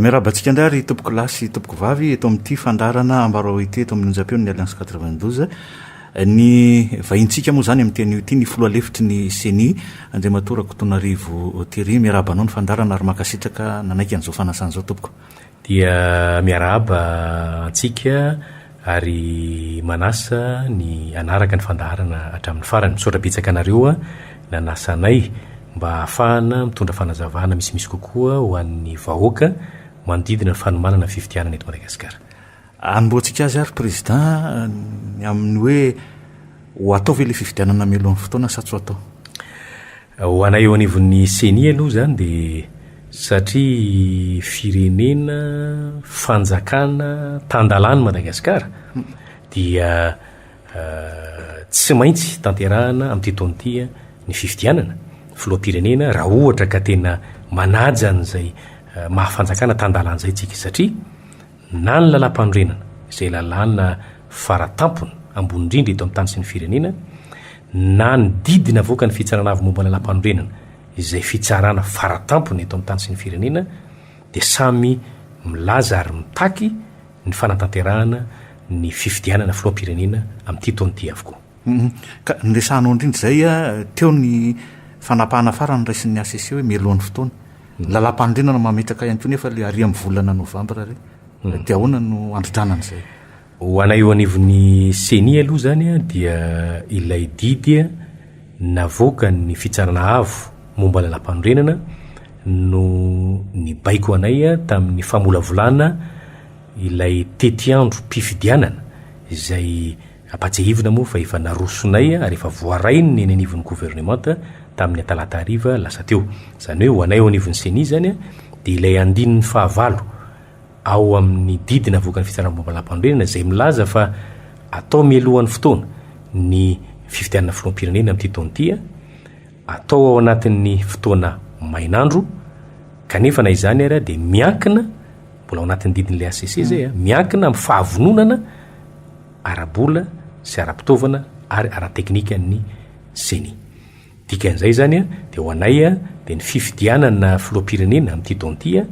miarabantsika ndray ary tompoko lasy tompoko vavy eto amin'ity fandarana ambarao ity eto amin'ny onjam-peo ny alliance 92 Ny vahintsika moa izany amin'ity anio ity ny filoha lefitry ny ceni, Andriamatoa Rakotonarivo Thierry. Miarahaba anao ny fandaharana ary mankasitraka nanaiky an'izao fanasana izao tompoko. Dia miarahaba antsika ary manasa ny hanaraka ny fandaharana hatramin'ny farany. Misaotra betsaka anareo nanasa anay mba hahafahana mitondra fanazavana misimisy kokoa ho an'ny vahoaka manodidina ny fanomanana ny fifidianana eto Madagasikara. Anombohantsika azy ary Président ny amin'ny hoe ho atao ve ilay fifidianana mialohan'ny fotoana sa tsy ho atao? Ho anay eo anivon'ny Ceni aloha izany dia satria firenena, fanjakana, tan-dalàn'i Madagasikara dia tsy maintsy tanterahana amin'ity taona ity ny fifidianana filoham-pirenena raha ohatra ka tena manaja an'izay maha fanjakana tan-dalàna izay isika satria na ny Lalàmpanorenana, izay lalàna fara tampony, ambony indrindra eto amin'ny tany sy ny firenena, na ny didy navoakan'ny Fitsarana Avo momba ny Lalàmpanorenana, izay fitsarana fara tampony eto amin'ny tany sy ny firenena, dia samy milaza ary mitaky ny fanatanterahana ny fifidianana filoham-pirenena amin'ity taona ity avokoa. Humm. Ka noresahanao indrindra izay teo ny fanapahana farany noraisin'ny hcc hoe mialohan'ny fotoana. Lalàmpanorenana mametraka ihany koa nefa ilay ary amin'ny volana novambra ary. Dia ahoana no handrodrana an'izay? Ho anay eo anivon'ny ceni aloha izany dia ilay didy navoakan'ny Fitsarana Avo momba Lalàmpanorenana no nibaiko anay tamin'ny famolavolana ilay tetiandrom-pifidianana izay Ampantsihivina moa fa efa narosonay ary efa voarainy ny eny anivon'ny governemanta tamin'ny talata hariva lasa teo. Izany hoe ho anay ao anivon'ny Ceni izany dia ilay andininy fahavalo ao amin'ny didy navoakan'ny fitsaram-baovao lapanondrenana izay milaza fa atao mialohan'ny fotoana ny fifidianana filoham-pirenena amin'ity taona ity atao ao anatin'ny fotoana mainandro kanefa na izany ary dia miankina, mbola ao anatin'ny didin'ilay hcc izay a, miankina amin'ny fahavononana ara-bola sy ara-pitaovana ary ara-teknikan'ny ceni. Dikan'izay izany dia ho anay dia ny fifidianana filoham-pirenena amin'ity taona ity a,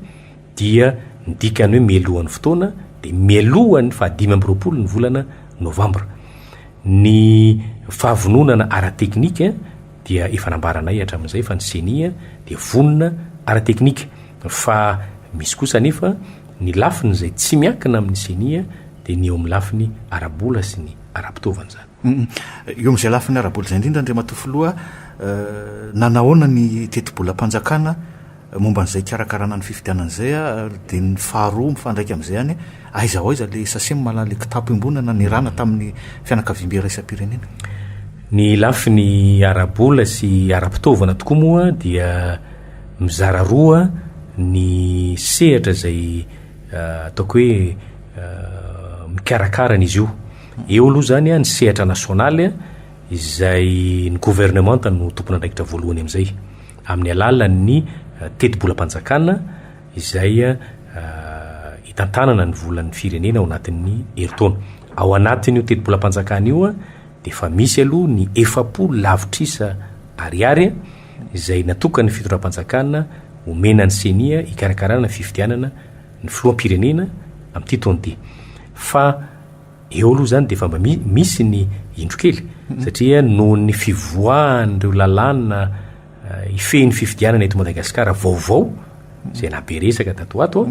dia ny dikany hoe mialohan'ny fotoana dia mialohan'ny fahadimy amby roapolo ny volana novambra. Ny fahavononana ara-teknika dia efa nambaranay hatramin'izay fa ny ceni dia vonona ara-teknika fa misy kosa anefa ny lafiny izay tsy miankina amin'ny ceni dia ny eo amin'ny lafiny ara-bola sy ny ara-pitaovana izany. Eo amin'izay lafiny ara-bola izay indrindra Andriamatoa Filoha, nanahoana ny tetibolam-panjakana, Momba an'izay hikarakarana ny fifidianana izay ary dia ny faharoa mifandraika amin'izay ihany hoe aiza ho aiza ilay sachem mahalala ilay kitapo iombonana nirana tamin'ny fianakaviam-be iraisam-pirenena? Ny lafiny ara-bola sy ara-pitaovana tokoa moa dia mizara roa ny sehatra izay ataoko hoe mikarakara an'izy io. Eo aloha izany ny sehatra nasionaly izay ny governemanta no tompon'andraikitra voalohany amin'izay. amin'ny alalan'ny tetibolam-panjakana izay hitantanana ny volan'ny firenena ao anatin'ny herintaona. Ao anatin'io tetibolam-panjakana io dia efa misy aloha ny efapolo lavitrisa ariary izay natokan'ny fitondram-panjakana omena ny ceni hikarakarana ny fifidianana ny filoham-pirenena amin'ity taona ity. Fa Eo aloha izany dia efa mba misy ny indro kely satria noho ny fivoahan'ireo lalàna hifehy ny fifidianana eto Madagasikara vaovao izay naha be resaka tato ho ato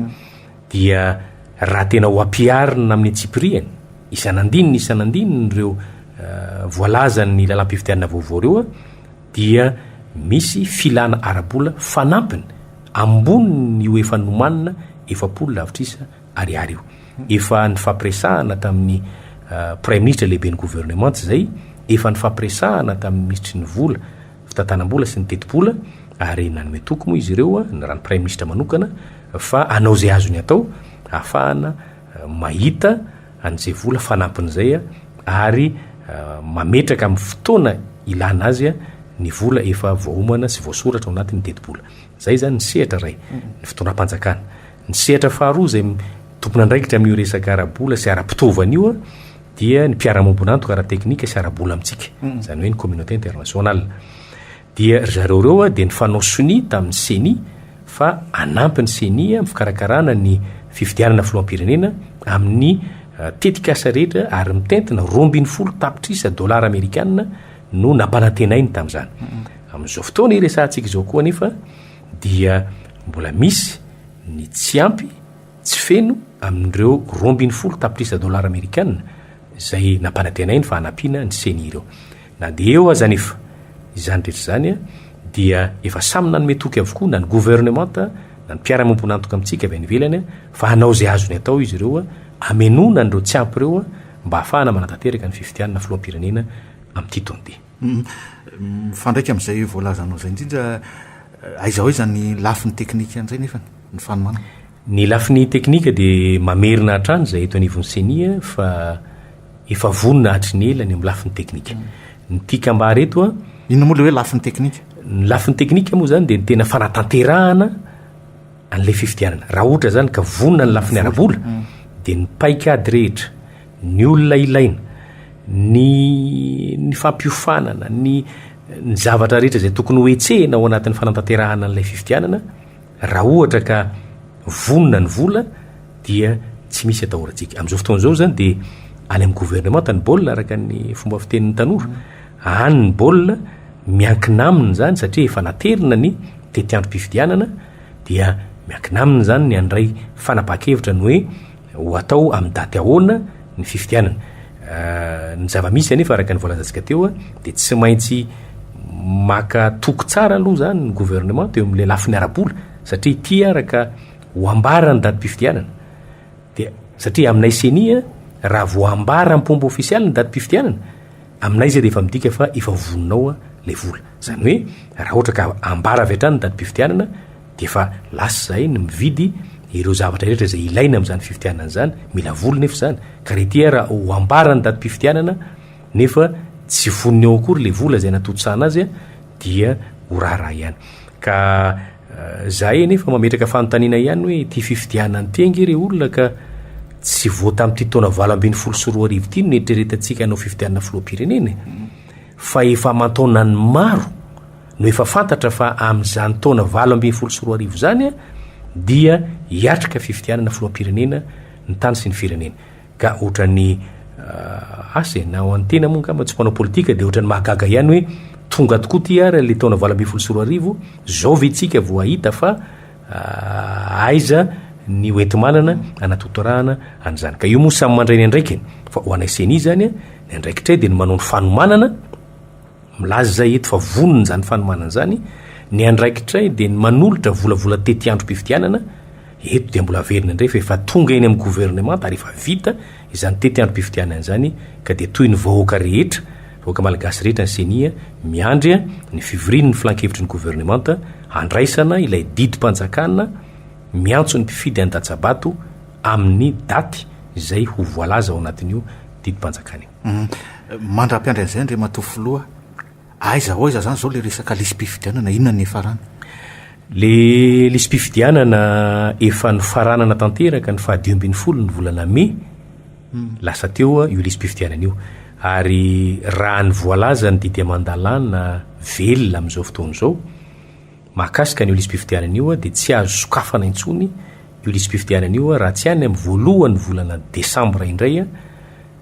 dia raha tena ho ampiharina amin'ny antsipiriany isan'andininy isan'andininy ireo voalazan'ny lalam-pifidianana vaovao ireo dia misy filana ara-bola fanampiny ambonin'io efa nomanina efapolo lavitrisa Ariary io. Efa nifampiresahana tamin'ny Praiminisitra lehibe ny governemanta izay, efa nifampiresahana tamin'ny Minisitry ny vola, fitantanam-bola sy ny tetibola ary nanome toky moa izy ireo ny raha ny Praiminisitra manokana fa hanao izay azony atao hahafahana mahita an'izay vola fanampin'izay ary mametraka amin'ny fotoana ilana azy ny vola efa voaomana sy voasoratra ao anatin'ny tetibola. Izay izany ny sehatra iray, ny fitondram-panjakana. Ny sehatra faharoa izay tompon'andraikitra amin'io resaka ara-bola sy ara-pitaovana io dia ny mpiara-miombon'antoka ara-teknika sy ara-bola amintsika, izany hoe ny communauté internationale. Dia ry zareo ireo dia nifanao sonia tamin'ny Ceni fa hanampy ny Ceni amin'ny fikarakarana ny fifidianana filoham-pirenena amin'ny tetikasa rehetra ary mitentina roa ambin'ny folo tapitrisa dolara amerikana no nampanantenainy tamin'izany. Amin'izao fotoana iresahantsika izao koa anefa dia mbola misy ny tsy ampy, tsy feno amin'ireo roa ambin'ny folo tapitrisa dolara amerikana izay nampanantenainy fa hanampiana ny ceni ireo. Na dia eo aza anefa izany rehetra izany dia efa samy nanome toky avokoa na ny governemanta na ny mpiara-miombon'antoka amintsika avy any ivelany fa hanao izay azony atao izy ireo hamenoana an'ireo tsy ampy ireo mba hahafahana manatanteraka ny fifidianana filoham-pirenena amin'ity taon-ity. Mifandraika amin'izay voalazanao izay indrindra, aiza aiza ny lafiny teknika an'izay nefany ny fanomanana? Ny lafiny teknika dia mamerina hatrany izay eto anivon'ny ceni fa efa vonona hatry ny ela ny amin'ny lafiny teknika. Ny tiako hambara eto an. Inona moa ilay hoe lafiny teknika? Ny lafiny teknika moa izany dia ny tena fanatanterahana. an'ilay fifidianana. Raha ohatra izany ka vonona ny lafiny ara-bola dia ny paikady rehetra, ny olona ilaina, ny ny fampiofanana, ny ny zavatra rehetra izay tokony ho hetsehina ao anatin'ny fanantanterahana an'ilay fifidianana, raha ohatra ka vonona ny vola dia tsy misy atahorantsika. Amin'izao fotoana izao izany dia any amin'ny governemanta ny baolina araka ny fomba fitenin'ny tanora. Any ny baolina, miankina aminy izany satria efa naterina ny tetiandrom-pifidianana. dia miankina aminy izany ny handray fanapahan-kevitra ny hoe ho atao amin'ny daty ahoana ny fifidianana. Ny zava-misy anefa araka ny voalazantsika teo dia tsy maintsy maka toky tsara aloha izany ny gouvernement teo amin'ilay lafiny ara-bola satria ity araka ho ambara ny datim-pifidianana dia satria aminay ceni raha vao ambara am-pomba ofisialy ny datim-pifidianana Aminay izay dia efa midika fa efa voninao ilay vola. Izany hoe raha ohatra ka ambara avy hatrany ny datim-pifidianana dia efa lasa izahay ny mividy ireo zavatra rehetra izay ilaina amin'izany fifidianana izany, mila vola nefa izany, ka re ity ara ho ambara ny datim-pifidianana nefa tsy voniny ao akory ilay vola izay natontosana azy dia ho raharaha ihany. Ka. Zahay anefa mametraka fanontaniana ihany hoe ity fifidianana ity ange re olona ka tsy vao tamin'ity taona valo ambin'ny folo sy roa arivo ity no niheritreretantsika hanao fifidianana filoham-pirenena e. Fa efa aman-taonan'ny maro no efa fantatra fa amin'izany taona valo ambin'ny folo sy roa arivo izany dia hiatrika fifidianana filoham-pirenena ny tany sy ny firenena. Ka otrany asa e, na ho an'ny tena moa angamba tsy mpanao politika dia otrany mahagaga ihany hoe tonga tokoa ity ary ilay taona valo ambin'ny folo sy roa arivo, zao ve tsika vao hahita fa aiza ny hoenti-manana hanatotorahana an'izany. Ka io moa samy mandray ny andraikiny, fa ho anay ceni izany ny andraikitray dia ny manao ny fanomanana, Milaza izahay eto fa vonona izany fanomanana izany, ny andraikitray dia ny manolotra volavola tety androm-pifidianana, eto dia mbola averina indray fa efa tonga eny amin'ny governemanta ary efa vita izany tety androm-pifidianana izany ka dia toy ny vahoaka rehetra, vahoaka malagasy rehetra ny ceni miandry ny fivorian'ny filankevitry ny governemanta handraisana ilay didim-panjakana miantso ny mpifidy any Datsabato amin'ny daty izay ho voalaza ao anatin'io didim-panjakana io. Mandra-piandry an'izay Andriamatoa Filoha, aiza ho aiza izany izao ilay resaka lisi-pifidianana, inona no niafarany? Ilay lisi-pifidianana efa nofaranana tanteraka ny faha dimy ambin'ny folo ny volana mey lasa teo io lisi-pifidianana io ary raha ny voalaza ny didy aman-dalàna velona amin'izao fotoana izao mahakasika an'io lisi-pifidianana io dia tsy azo sokafana intsony io lisi-pifidianana io raha tsy any amin'ny voalohan'ny volana desambra indray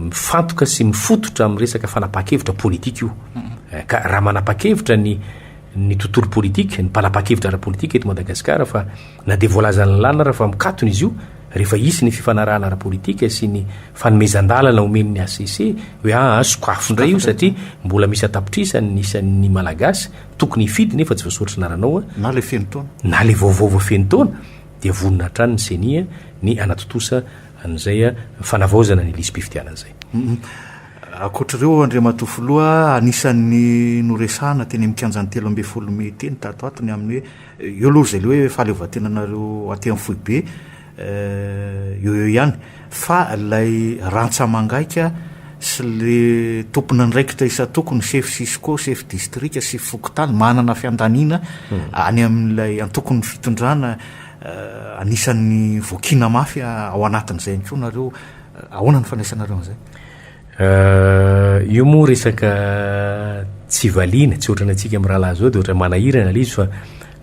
Mifantoka sy mifototra amin'ny resaka fanapahan-kevitra politika io. Ka raha manapahan-kevitra ny ny tontolo politika, ny mpanapahan-kevitra ara-politika eto Madagasikara fa na dia voalazan'ny lalina ara fa mikatona izy io rehefa hisy ny fifanarahana ara-politika sy ny fanomezan-dalana omen'ny HCC hoe aa sokafo indray io satria mbola misy an-tapitrisany ny isan'ny Malagasy tokony hifidy nefa tsy voasoratra ny aranao a, Na ilay feno taona. na ilay vaovao vao feno taona dia vonona hatrany ny ceni a ny hanatontosa an'izay fanavaozana ny lisi-pifidianana izay. Ankoatr'ireo, Andriamatoa Filoha, anisan'ny noresahana teny amin'ny kianjan'ny telo ambin'ny folo mey teny tato ato ny amin'ny hoe eo aloha izay ilay hoe fahaleovantenanareo aty amin'ny foibe, eo eo ihany, fa ilay rantsa-mangaika sy ilay tompon'andraikitra isan-tokony, sefo cisco, sefo distrika, sefo fokontany, manana fiandaniana any amin'ilay antokon'ny fitondrana, Anisan'ny voakiana mafy ao anatin'izay ihany koa nareo. Ahoana ny fandraisanareo an'izay? Io moa resaka tsy valiana, tsy ohatran'ny antsika amin'ny rahalahy izao dia ohatran'ny manahirana ilay izy fa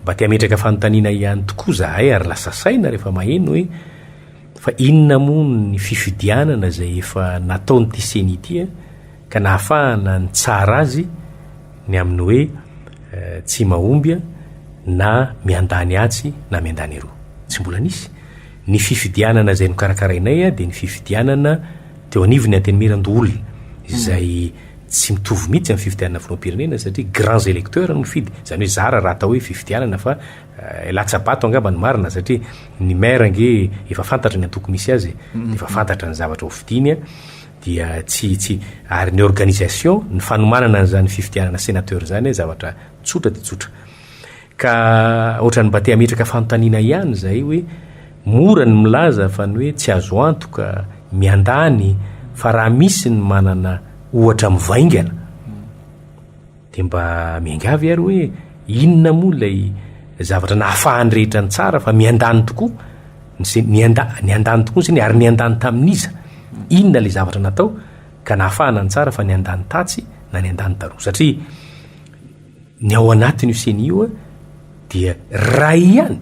mba te hametraka fanontaniana ihany tokoa izahay ary lasa saina rehefa maheno hoe fa inona moa ny fifidianana izay efa nataon'ity ceni ity an? ka nahafahana nitsara azy ny amin'ny hoe tsy mahomby na miandany atsy na miandany eroa. Tsy mbola nisy. Ny fifidianana izay nokarakarainay dia ny fifidianana teo anivon'ny Antenimierandoholona, izay tsy mitovy mihitsy amin'ny fifidianana filoham-pirenena satria grands electeurs no mifidy, izany hoe zara raha atao hoe fifidianana fa latsa-bato angamba no marina satria ny maire ange efa fantatra ny antoko misy azy e, dia efa fantatra ny zavatra hofidiany. dia tsy tsy ary ny organisation ny fanomanana an'izany fifidianana sénateur izany hoe zavatra tsotra dia tsotra ka ohatran'ny mba te hametraka fanontaniana ihany izay hoe mora ny milaza fa ny hoe tsy azo antoka miandany fa raha misy ny manana ohatra mivaingana Dia mba miangavy ary hoe inona moa ilay zavatra nahafahan'ny rehetra nitsara fa miandany tokoa ny nianda, niandany tokoa ny sainy ary niandany tamin'iza? Inona ilay zavatra natao ka nahafahana nitsara fa niandany tatsy na niandany taroa? Satria ny ao anatin'io sainy io dia ray ihany,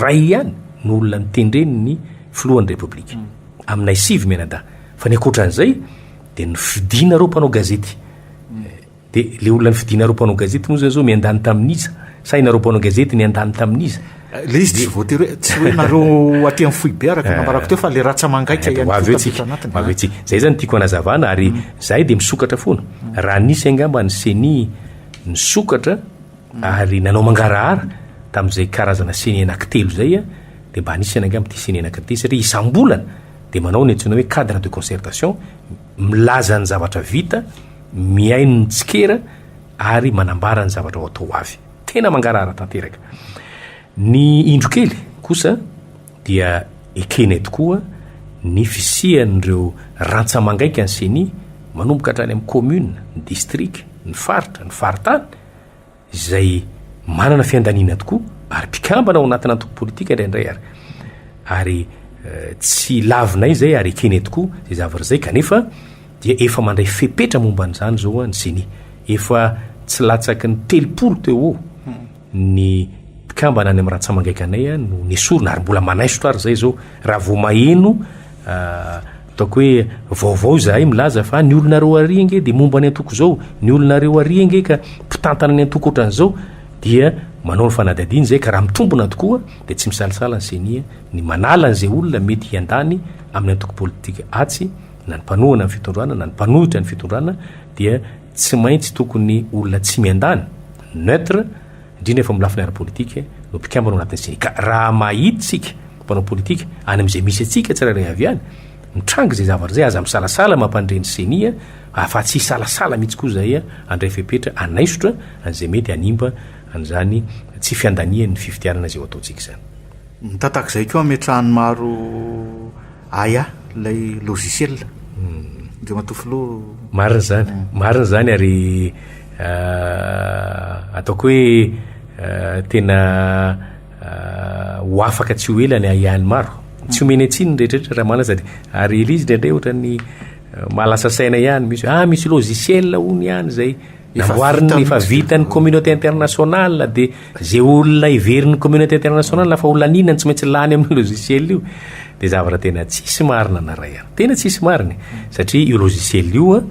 ray ihany no olona notendren'ny filohan'ny Repoblika aminay sivy mianadahy fa ny ankoatran'izay dia nofidina ireo mpanao gazety De le olona nifidinareo mpanao gazety moa zany zao miandany tamin'iza? Sa inareo mpanao gazety niandany tamin'iza? Le izy tsy voatery hoe, tsy hoe nareo aty amin'ny foibe araka ny nambarako teo fa le ratsamangaika ihany koa tafiditra anatiny. Ho avy eo tsika. Zay zany tiako hanazavana ary zahay de misokatra foana. Raha nisy angamba ny ceni nisokatra ary nanao mangarahara tamin'izay karazana ceni anakitelo zay a, de mba anisany angamba ity ceni anakitelo ity satria isam-bolana de manao ny antsoina hoe cadre de concertation, milaza ny zavatra vita, mihaino ny tsikera ary manambara ny zavatra ho atao ho avy. Tena mangarahara tanteraka. Ny indro kely kosa dia ekenay tokoa ny fisian'ireo rantsa-mangaika ny ceni, manomboka hatrany amin'ny commune, ny district, ny faritra, ny faritany, izay manana fiandaniana tokoa ary mpikambana ao anatina antoko politika indraindray ary ary tsy lavinay izay ary ekenay tokoa izay zavatra izay kanefa dia efa mandray fepetra momba an'izany izao ny CENI efa tsy latsaky ny telopolo teo ho ny mpikambana any amin'ny rantsamangaikanay no nesorina ary mbola manaisotra ary izay izao raha vao maheno Ataoko hoe vaovao izahay milaza fa ny olonareo ary ange dia momba ny antoko izao, ny olonareo ary ange ka mpitantana ny antoko ohatran'izao dia manao ny fanadihadiana izay ka raha mitombina tokoa dia tsy misalasala ny ceni ny manala an'izay olona mety hiandany amin'ny antoko politika atsy na ny mpanohana ny fitondrana na ny mpanohitra ny fitondrana dia tsy maintsy tokony olona tsy miandany, neutre, indrindra fa amin'ny lafiny ara-politika, no mpikambana ao anatin'ny CECA. Raha mahita isika mpanao politika any amin'izay misy antsika tsirairay avy any, mitranga izay zavatra izay, aza misalasala mampandre ny ceni a, afa-tsy hisalasala mihitsy koa izay a, handray fepetra hanaisotra an'izay mety hanimba an'izany tsy fiandanian'ny fifidianana izay ho ataontsika izany. Mitatak'izay koa hametrahan'ny maro. Aya ilay logiciel Andriamatoa Filoha. Marina izany, marina izany ary ataoko hoe tena ho afaka tsy ho ela ny Aya ny maro. Tsy omena itsiny ny rehetrarehetra raha mahalasa dia ary Elise indraindray ohatran'ny mahalasa saina ihany misy hoe ah misy logiciel hono ihany izay Namboariny efa vitan'ny communauté internationale dia izay olona heverin'ny communauté internationale fa ho laniana ny tsy maintsy lany amin'ny logiciel io dia zavatra tena tsisy marina na ray ary tena tsisy marina satria io logiciel io a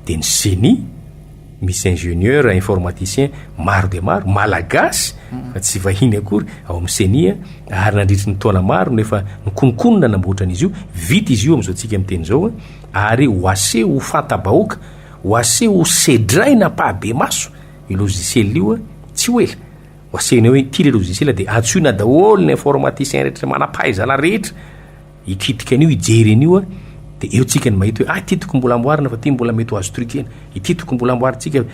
dia ny génie misy ingénieur informaticien maro dia maro malagasy fa tsy vahiny akory ao amin'ny CENI ary nandritry ny taona maro no efa nikononkonona namboatra an'izy io vita izy io amin'izao tsika miteny izao a ary ho aseho ho fanta-bahoaka Ho aseho sedraina ampahibemaso io logiciel io tsy ho ela. Ho asehonay hoe ity ilay logiciel dia antsoina daholo ny informaticien rehetra manam-pahaizana rehetra hikitika an'io hijery an'io dia eo tsika no mahita hoe ah ity tokony mbola amboarina fa ity mbola mety ho azo truquena, ity tokony mbola amboarintsika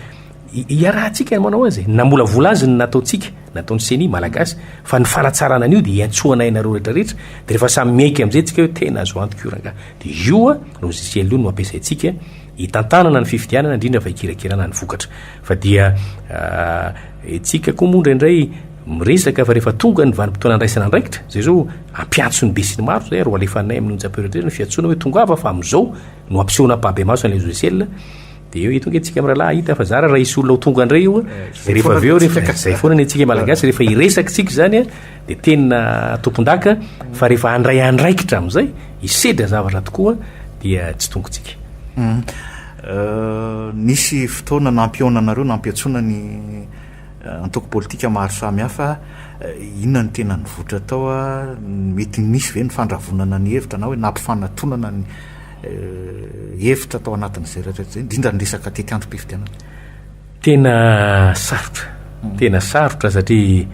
iarahantsika ny manao azy e! namolavola azy ny nataontsika, nataon'ny ceni malagasy fa ny fanatsarana an'io dia iantsoanay anareo rehetra rehetra dia rehefa samy miaiky amin'izay tsika hoe tena azo antoka io rangahy dia io logiciel io no ampiasaintsika hitantanana ny fifidianana indrindra fa hikirakirana ny vokatra fa dia itsika koa moa indraindray miresaka fa rehefa tonga ny vanimpotoana andraisana andraikitra zay zao ampiatso ny besiny maro zay ary hoalefanay amin'ny onja prioritaire ny fiatsoana hoe tongava fa amin'izao no ampisehoana ampahabe maso an'ilay logiciel dia eo tonga itsika mirahalahy hahita fa zara raha hisy olona ho tonga indray io eh, rehefa avy eo rehefa izay foana ny antsika malagasy rehefa hiresaka tsika izany a eh, Dia tena tompondaka fa rehefa handray andraikitra amin'izay, hisedra zavatra tokoa dia tsy tongotsika. Euh, nisy fotoana nampihaona anareo, nampiantsoana ny euh, antoko politika maro samihafa. Euh, inona ny tena nivoitra tao? Mety nisy ve ny fandravonana ny hevitra na hoe nampifanatonana ny euh, hevitra tao anatin'izay rehetra izay, indrindra ny resaka tetiandrom-pifidianana? Tena sarotra, tena sarotra satria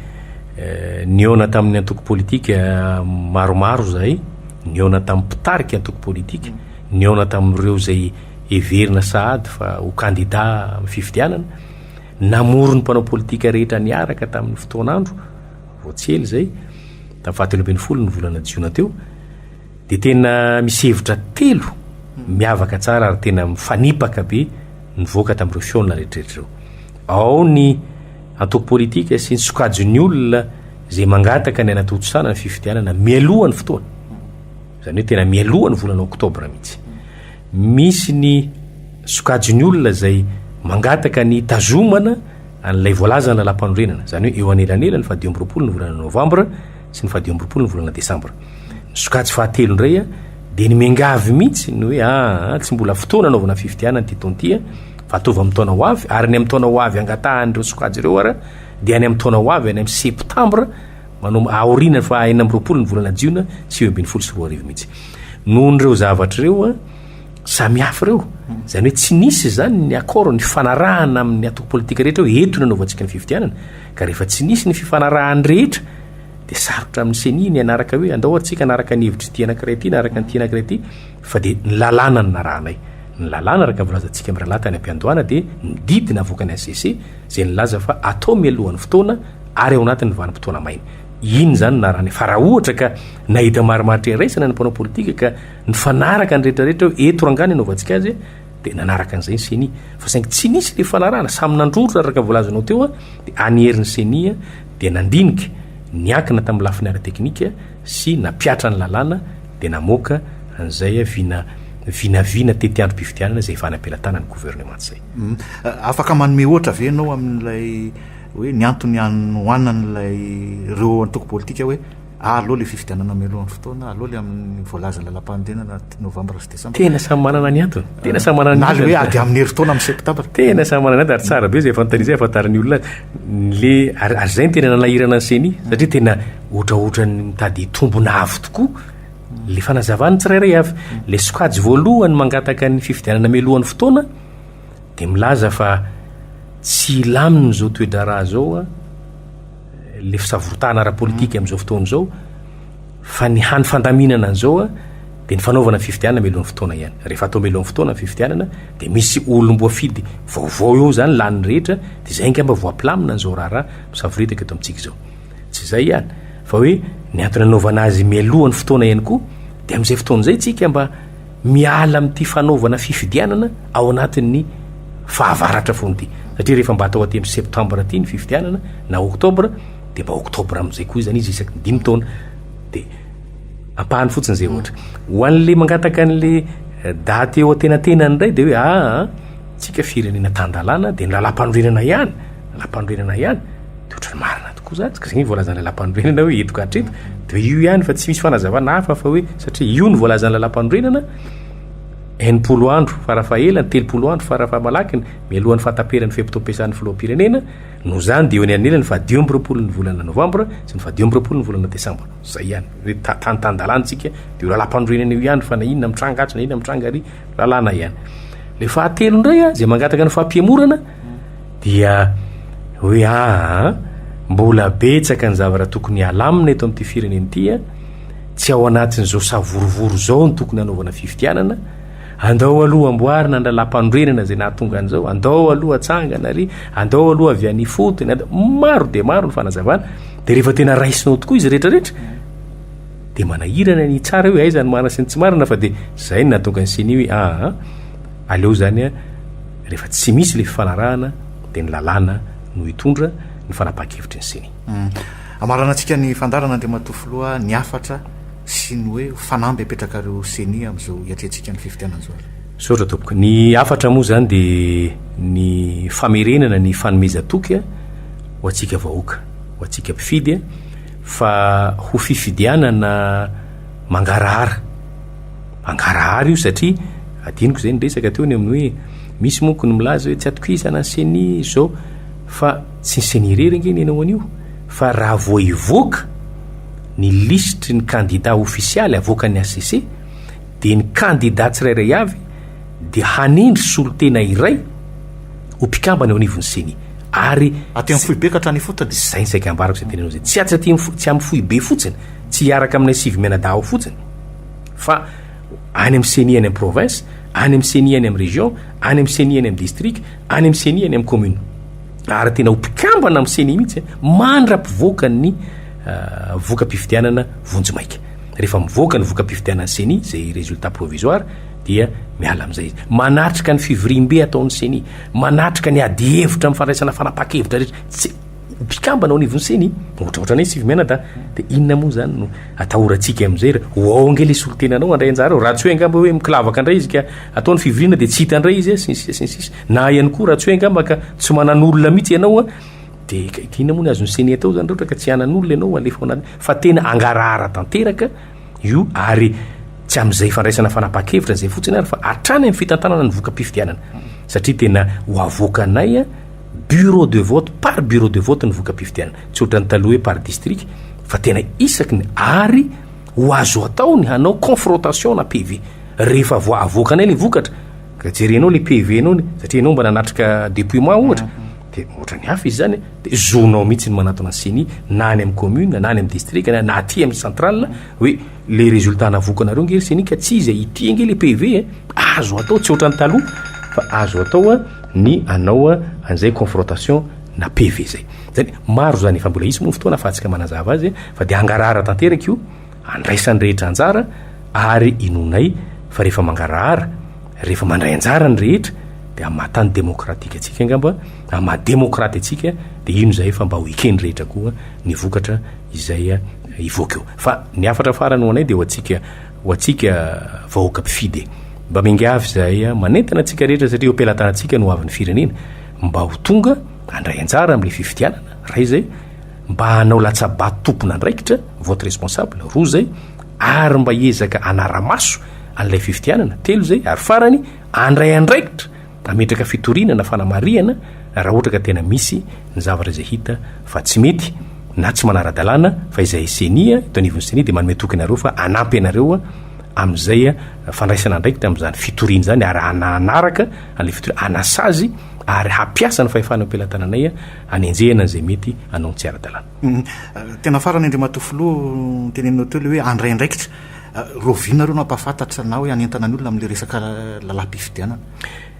nihaona tamin'ny antoko politika maromaro izahay, nihaona tamin'ny mpitarika antoko politika, nihaona tamin'ireo izay heverina sahady fa ho kandida amin'ny fifidianana, namory ny mpanao politika rehetra niaraka tamin'ny fotoan'andro, vao tsy ela izay, tamin'ny fahatelo ambin'ny folo ny volana jiona teo, dia tena misy hevitra telo miavaka tsara ary tena mifanipaka be nivoaka tamin'ireo fihaonana rehetrarehetra ireo. Ao ny antoko politika sy ny sokajin'ny olona izay mangataka ny hanatontosana ny fifidianana mialoha ny fotoana. Izany hoe tena mialoha ny volana oktobra mihitsy. Misy ny sokajin'ny olona izay mangataka ny hitazomana an'ilay voalazana lampanorenana. Izany hoe eo anelanelan'ny fahadimy amby roapolo ny volana novambra sy ny fahadimy amby roapolo ny volana desambra. Ny sokajy fahatelo indray dia ny miangavy mihitsy ny hoe aa tsy mbola fotoana anaovana fifidianana ity taona ity fa ataovy amin'ny taona ho avy ary ny amin'ny taona ho avy angatahan'ireo sokajy ireo ary dia any amin'ny taona ho avy any amin'ny septambra manao aoriana fa enina amby roapolo ny volana jiona sivy ambin'ny folo sy roa arivo mihitsy noho ireo zavatra ireo a samy hafa ireo izany hoe tsy nisy izany ny accord ny fanarahana amin'ny atoko politika rehetra eo entona anaovantsika ny fifidianana Ka rehefa tsy nisy ny fifanarahan'ny rehetra dia sarotra amin'ny ceni ny hanaraka hoe andao ary tsika hanaraka ny hevitry ity anankiray ity na araka an'ity anankiray ity fa dia ny lalàna no narahanay ny lalàna araka ny volazantsika mirahalahy tany am-piandohana dia ny didy navoakan'ny HCC izay nilaza fa atao mialohan'ny fotoana ary ao anatin'ny vanim-potoana maina iny izany narany fa raha ohatra ka nahita marimaritra iraisana ny mpanao politika ka nifanaraka ny rehetrarehetra hoe eto rangana anaovantsika azy Dia nanaraka an'izay ny ceni, fa saingy tsy nisy ilay fanarahana, samy nandrorona araka ny voalazanao teo dia any herin'ny ceni dia nandinika, niankina tamin'ny lafiny ara-teknika sy nampihatra ny lalàna dia namoaka an'izay vina vinavina tety androm-pifidianana izay efa any am-pelatanan'ny gouvernement izay. Afaka manome ohatra ve ianao amin'ilay hoe ny antony hanohanan'ilay ireo antoko politika hoe Aleo ilay fifidianana mialohan'ny fotoana, aleo ilay amin'ny voalazan'ny lalam-panorenana novambra sy desambra. Tena samy manana ny antony. Tena samy manana ny antony. Na ilay hoe ady amin'ny herintaona amin'ny septambra. Tena samy manana ny antony ary tsara be izay fanontaniana izay ahafantaran'ny olona le ary ary izay no tena nanahirana ny CENI satria tena ohatraohatran'ny mitady hitombona avo tokoa le fanazavan'ny tsirairay avy. Le sokajy voalohany mangataka ny fifidianana mialohan'ny fotoana dia milaza fa tsy hilamina izao toe-draharaha izao le fisavotana ara-politika amin'izao fotoana izao fa ny hany fandaminana an'izao a dia ny fanaovana fifidianana melohan'ny fotoana ihany rehefa atao melohan'ny fotoana ny fifidianana dia misy olom-boafidy vaovao eo izany lanin'ny rehetra dia izay angamba voapilamina an'izao raharaha misavoritaka eto amintsika izao tsy izay ihany fa hoe ny antony anaovana azy mialohan'ny fotoana ihany koa dia amin'izay fotoana izay tsika mba miala amin'ity fanaovana fifidianana ao anatin'ny fahavaratra foana ity. Satria rehefa mba atao aty amin'ny septambra aty ny fifidianana na oktobra dia mba oktobra amin'izay koa izany izy isaky ny dimy taona. Dia ampahany fotsiny izay ohatra. Ho an'ilay mangataka an'ilay eh, daty eo antenatenany indray dia hoe aa, ah, ah, tsika firenena tan-dalàna dia ny lalàmpanorenana ihany, lalàmpanorenana ihany. de ohatran'ny marina tokoa zany ka zegny voalazan'ny lalampanorenana hoe eto ka hatreto de io ihany fa tsy misy fanazavana hafa fa hoe satria io ny voalazan'ny lalampanorenana enimpolo andro farafahelany telopolo andro farafahamalakiny mialohan'ny fahataperan'ny fe-potoam-piasan'ny filoham-pirenena no zany de eo ny anelany fadio amby roapolo ny volana novambra sy ny fadio amby roapolo ny volana desambra zay ihany hoe ta- tany tan-dalantsika de io lalampanorenana io ihany fa na inona mitranga atsy na inona mitranga ary lalàna ihany le fahatelo indray a zay mangataka ny fampihemorana dia hoe aa mbola betsaka ny zavatra tokony halamina eto amin'ity firenena ity a, tsy ao anatin'izao savorovoro izao no tokony hanaovana fifidianana, andao aloha amboarina ny lalàmpanorenana izay nahatonga an'izao, andao aloha atsangana ary andao aloha avy any ifotony, andao, maro dia maro ny fanazavana, dia rehefa tena raisinao tokoa izy rehetra rehetra dia manahirana ny hitsara hoe aiza ny marina sy ny tsy marina fa dia izay no nahatonga ny ceni hoe aa aleo izany a, Rehefa tsy misy ilay fifanarahana dia ny lalàna no hitondra ny fanapahan-kevitry ny ceni. Amaranantsika ny fandaharan' Andriamatoa Filoha ny hafatra sy ny hoe fanamby apetrakareo ceni amin'izao hiatrehantsika ny fifidianan'izao ary. Misaotra tompoko. Ny hafatra moa izany dia ny famerenana ny fanomezan-toky ho antsika vahoaka, ho antsika mpifidy fa ho fifidianana mangarahara. Mangarahara io satria adinoko izay niresaka teo ny amin'ny hoe misy monko ny milaza hoe tsy atokisana ny ceni izao fa tsy ny ceni irery ange ny hanao an'io fa raha vao hivoaka ny lisitry ny kandida ofisialy avoakan'ny HCC dia ny kandida tsirairay avy dia hanendry solontena iray ho mpikambana eo anivon'ny ceni ary Aty amin'ny foibe ka hatrany ifotony. Izay ny saika ambarako izay tenenao izay. Tsy atsy aty tsy amin'ny foibe fotsiny, tsy hiaraka aminay sivy mianadahy ao fotsiny. fa any amin'ny ceni any amin'ny province any amin'ny ceni any amin'ny région any amin'ny ceni any amin'ny district any amin'ny ceni any amin'ny commune ary tena ho mpikambana amin'ny ceni mihitsy mandra-pivoaka ny euh, voka-pifidianana vonjy maika rehefa mivoaka ny voka-pifidianan'ny ceni zay résultat provisoire dia miala amin'izay izy manatrika ny fivoriambe ataon'ny ceni manatrika ny adihevitra amin'ny fandraisana fanapaha-kevitra rehetra tsy mpikambana ao anivon'ny ceni ohatraohatra anay sivy mianada dia inona moa izany no atahorantsika amin'izay ra ho ao ange ilay solontenanao handray anjara ao raha tsy hoe angamba hoe mikilavaka indray izy ka atao ny fivoriana dia tsy hita indray izy sy ny sisa sy ny sisa na ihany koa raha tsy hoe angamba ka tsy manan'olona mihitsy ianao a dia ka dia inona moa ny azon'ny ceni atao izany raha ohatra ka tsy hanan'olona ianao alefa ao anatiny fa tena hangarahara tanteraka io ary tsy amin'izay fandraisana fanapahan-kevitra izay fotsiny ary fa hatrany amin'ny fitantanana ny voka-pifidianana satria tena ho avoakanay a Bureau de vote par bureau de vote ny voka-pifidianana, tsy ohatran'ny taloha hoe par district fa tena isaky ny ary ho azo atao ny hanao confrontation na PV rehefa vo avoakanay le vokatra ka jerenao le PV nao ny satria enao mba nanatrika depouillement ohatra de ohatran'ny hafa izy zany de zonao mihitsy ny manatona ny ceni na any amin'ny commune na any amin'ny district na aty amin'ny centrale hoe Le résultat navoakanareo nge ry senika tsy izy e, ity ange le PV e, azo atao tsy ohatran'ny taloha fa azo atao a ny anao a an'izay confrontation na PV zay. Zany maro zany e fa mbola hisy moa ny fotoana afahantsika manazava azy e, fa dia hangarahara tanteraka io, andraisan'ny rehetra anjara ary inoanay fa rehefa mangarahara, rehefa mandray anjara ny rehetra dia amin'ny maha tany demokratika antsika angamba, amin'ny maha demokraty antsika dia ino izay fa mba ho eken'ny rehetra koa ny vokatra izay hivoaka eo fa ny hafatra farany ho anay dia ho antsika ho antsika vahoaka mpifidy e mba miangavy izahay manentana antsika rehetra satria eo am-pelatanantsika no avy ny firenena mba ho tonga handray anjara amin'ilay fifidianana ray izay mba hanao latsabato tompon'andraikitra vote responsable roa izay ary mba hiezaka hanara-maso an'ilay fifidianana telo izay ary farany handray andraikitra Mametraka fitoriana na fanamarihana raha ohatra ka tena misy ny zavatra izay hita fa tsy mety na tsy manara-dalàna fa izay ceni eto anivon'ny ceni dia manome toky anareo fa hanampy anareo amin'izay fandraisana andraikitra amin'izany fitoriana izany ary hanahanaraka an'ilay fitoriana hanasazy ary hampiasa ny fahefana eo am-pelatananay hanenjehana an'izay mety hanao ny tsy ara-dalàna. Tena farany Andriamatoa Filoha, noteneninao teo ilay hoe handray andraikitra. Rahoviana ireo nampahafantatra na hoe hanentana ny olona amin'ilay resaka lalam-pifidianana?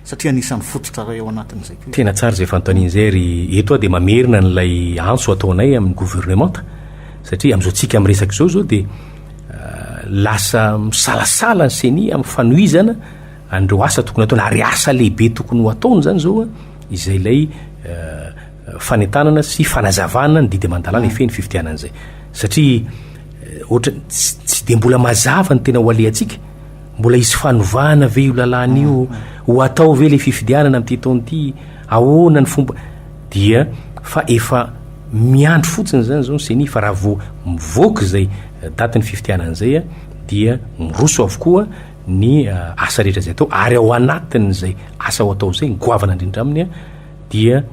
Satria anisan'ny fototra iray ao anatin'izay koa izy. Tena tsara izay fanontaniana izay ry eto aho dia mamerina an'ilay antso ataonay amin'ny governemanta satria amin'izao tsika miresaka izao izao dia lasa misalasala ny ceni amin'ny fanohizana an'ireo asa tokony ataony ary asa lehibe tokony ho ataony izany izao a izay ilay fanentanana sy fanazavana ny didy aman-dalàna hifehy ny fifidianana izay satria Ohatra, tsy dia mbola mazava ny tena ho alehantsika. Mbola hisy fanovana ve io lalàna io? Ho hatao ve ilay fifidianana amin'ity taona ity? Ahoana ny fomba? Dia fa efa miandry fotsiny izany izao ny ceni fa raha vao mivoaka izay datin'ny fifidianana izay dia miroso avokoa ny asa rehetra izay atao ary ao anatin'izay asa ho atao izay ny goavana indrindra aminy dia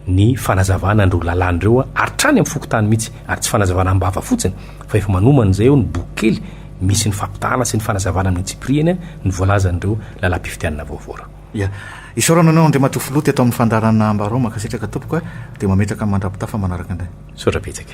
ny fanazavana an'ireo lalàna ireo hatrany amin'ny fokontany mihitsy, ary tsy fanazavana am-bava fotsiny fa efa manomana izay eo ny boky kely misy ny fampitahana sy ny fanazavana amin'ny antsipiriany ny voalazan'ireo lalam-pifidianana vaovao. Ia. Isaorana anao Andriamatoa Filoha teto amin'ny fandaharana Ambaraoma, Mankasitraka tompoko a! Dia mametraka ny mandra-pitafa manaraka indray. Misaotra betsaka.